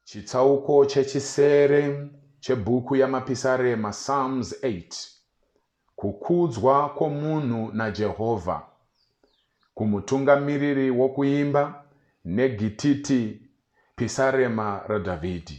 chitsauko chechisere chebhuku yamapisarema psalms 8 kukudzwa kwomunhu najehovha kumutungamiriri wokuimba negititi pisarema radhavhidhi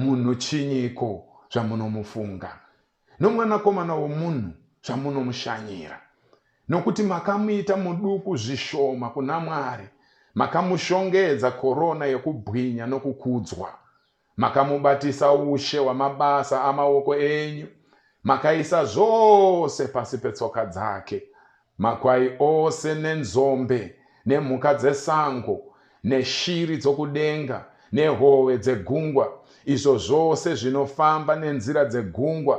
Munhu chinyiko zvamunomufunga, nomwanakomana womunhu zvamunomushanyira? Nokuti makamuita muduku zvishoma kuna Mwari, makamushongedza korona yokubwinya nokukudzwa. Makamubatisa ushe hwamabasa amaoko enyu, makaisa zvose pasi petsoka dzake. Makwai ose nenzombe nemhuka dzesango neshiri dzokudenga nehove dzegungwa, izvo zvose zvinofamba nenzira dzegungwa,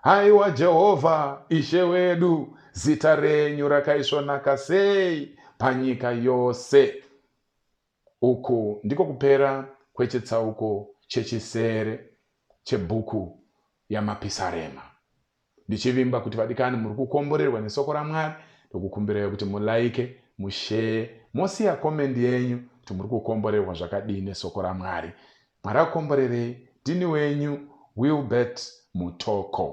Haiwa Jehovha, Ishe wedu, zita renyu rakaisvonaka sei panyika yose! Uku ndiko kupera kwechitsauko chechisere chebhuku yaMapisarema. Ndichivimba kuti vadikani muri kukomborerwa nesoko raMwari, ndokukumbirai kuti mulaike, musheye, mosiya komendi yenyu kuti muri kukomborerwa zvakadii nesoko raMwari. Mwari akukomborerei. Ndini wenyu, Wilbert Mutoko.